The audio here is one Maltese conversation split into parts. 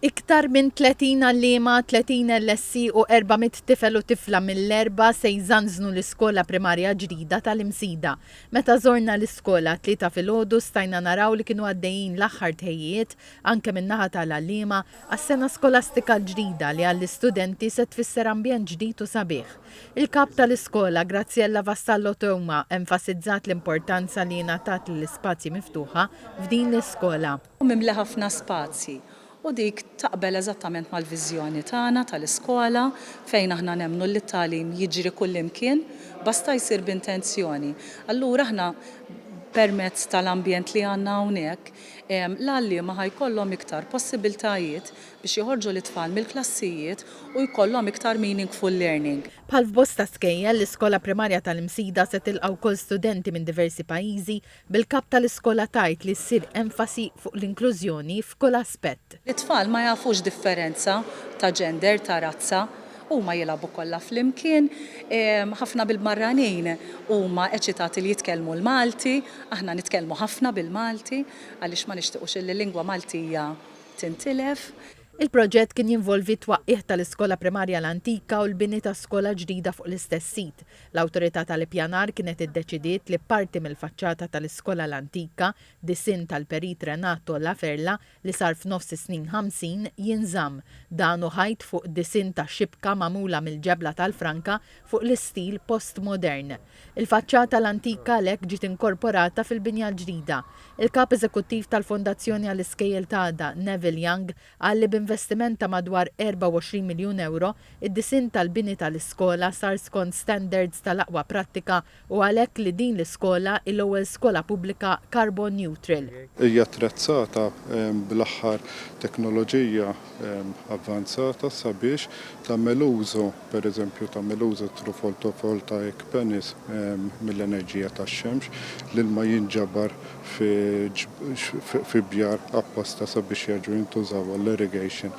Iktar minn 30 għalliema, 30 LSC u 400 tifel u tifla mill-Għerba se jżanżnu l-iskola primarja ġdida tal-Imsida. Meta żorna l-iskola t-Tlieta filgħodu stajna naraw li kienu għaddejjin l-aħħar tħejjijiet, anke min-naħa tal-għalliema, għas-sena skolastika l-ġdida li għall-istudenti se tfisser ambjent ġdid u sabiħ. Il-Kap tal-iskola, Graziella Vassallo Theuma, enfasizzat l-importanza li jingħatat lill-ispazji miftuħa f'din l-iskola. u mimli ħafna spazji u dik taqbel eżattament mal-viżjoni tagħna tal-iskola fejn aħna nemmnu li t-tagħlim jiġri kullimkien basta jsir b'intenzjoni. Allura aħna permezz tal-ambjent li għandna hawnhekk l-għalliema ħa jkollhom iktar possibiltajiet biex joħorġu lit-tfal mill-klassijiet u jkollhom iktar meaningful learning. Bħal f'bosta skejjel, l-Iskola Primarja tal-Imsida se tilqa' wkoll studenti minn diversi pajjiżi bil-Kap tal-Iskola tgħid li ssir enfasi fuq l-inklużjoni f'kull aspett. It-tfal ma jafux differenza ta' gender, ta' razza. Huma jilgħabu kollha flimkien. Ħafna mill-barranin huma eċitati li jitkellmu l-Malti. Aħna nitkellmu ħafna bil-Malti għaliex ma nixtiequx illi l-lingwa Maltija tintilef. Il-proġett kien jinvolvi t-twaqqigħ tal-Iskola Primarja l-antika u l-bini ta' skola ġdida fuq l-istess sit. L-Awtorità tal-Ippjanar kienet iddeċidiet li parti mill-faċċata tal-Iskola l-Antika, disinn tal-Perit Renato La Ferla li sar f'nofs is-snin ħamsin, jinżamm, dan u ħajt fuq disinn ta' xibka magħmula mill-ġebla tal-franka fuq l-istil postmodern. Il-faċċata l-antika għalhekk ġiet inkorporata fil-binja l-ġdida. Il-Kap Eżekuttiv tal-Fondazzjoni għall-Iskejjel t'Għada, Neville Young, Qal li b'investiment ta' madwar 24 miljun ewro, id-disinn tal-bini tal-iskola sar skont standards tal-aqwa prattika u għalhekk li din l-iskola hi l-ewwel skola pubblika carbon neutral. Hija attrezzata bl-aħħar teknoloġija avvanzata sabiex tagħmel użu per eżempju, tagħmel użu thru fotovoltaic panels mill-enerġija tax-xemx, l-ilma jinġabar fi bjar apposta sabiex jerġgħu jintużaw għall-irrigation.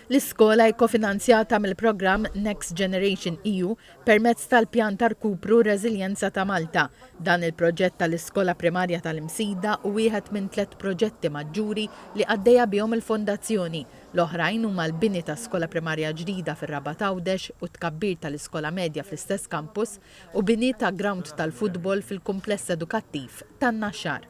L-iskola hi kofinanzjata mill-programm Next Generation EU permezz tal-Pjan ta' Rkupru u Reżiljenza ta' Malta. Dan il-proġett tal-Iskola Primarja tal-Imsida hu wieħed minn tliet proġetti maġġuri li għaddejja bihom il-Fondazzjoni, L-oħrajn huma l-bini ta' skola primarja ġdida fir-Rabat Għawdex u t-tkabbir tal-iskola medja fl-istess kampus u bini ta' grawnd tal-futbol fil-kumpless edukattiv tan-Naxxar.